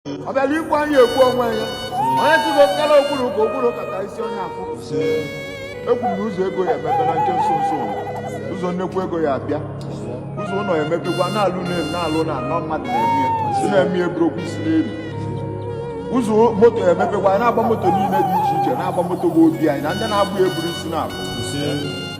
ọ bịara igbu anyị egbu onwe ya onye si gị okpukara okpuru ka okpuru kata isi onye afụ ekwuru na ụzọ ego ya emepe na nke nso nso ụzọ nnekwu ego ya abịa ụzọ ụlọ ya emepekwa na-alụ n'elu na-alụ na anọ mmadụ na-eme si na-eme eburu okwu si n'elu ụzọ moto ya emepekwa na-agba moto niile dị iche iche na-agba moto bụ obi anyị na ndị na-agba eburu isi na-abụ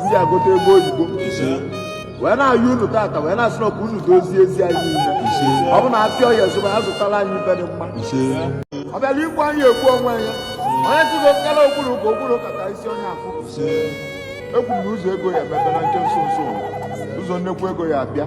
m ji agọta ego oyibo wee na-ayọ unu tata wee na-asị na ọ bụ unu dozie ezi anyị niile ọ bụ na afịa Oye zụba ya zụtara anyị ife dị mma ọ bịara igbu anyị egbu onwe ya onye si na nkara okpuru ka okpuru kata isi onye afụ ekwu m na ụzọ ego ya emepe na nke nso nso ụzọ nnekwu ego ya abịa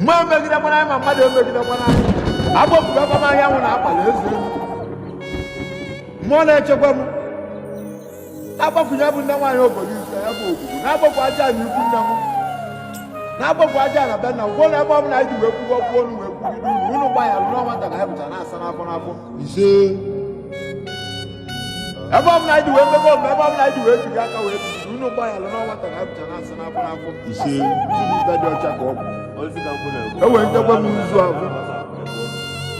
mmụọ emegidekwana anyị ma mmadụ emegidekwana anyị agbakwukwa m anyanwụ na agbala eze elu mmụọ na-echekwa m na-agbakwunye bụ nne nwaanyị obodo ise ya bụ obodo na-agbakwu ajana ikwu nne m na-agbakwu ajana be nna m kwuo na ebe ọ bụla anyị ji wee kwuo okwu ọnụ wee kwugide unu unu gbaghara na nwata ka anyị bụcha na-asa n'afọ n'afọ ise ebe ọbụla anyị ji wee mebe omume ebe ọbụla anyị ji wee jiri aka wee biri unu unu gbaghara na nwata ka anyị bụcha na-asa n'afọ n'afọ ise ife dị ọcha ka ọ bụ enwere nchekwa m nzu ahụ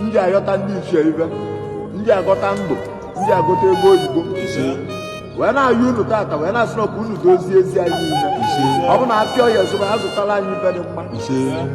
m ji ayọta ndị ichie ife m ji agọta ndụ m ji agọta ego oyibo wee na-ayọ unu tata wee na-asị na ọ bụ unu dozie ezi anyị niile ọ bụ na afịa Oye zụba ya zụtara anyị ife dị mma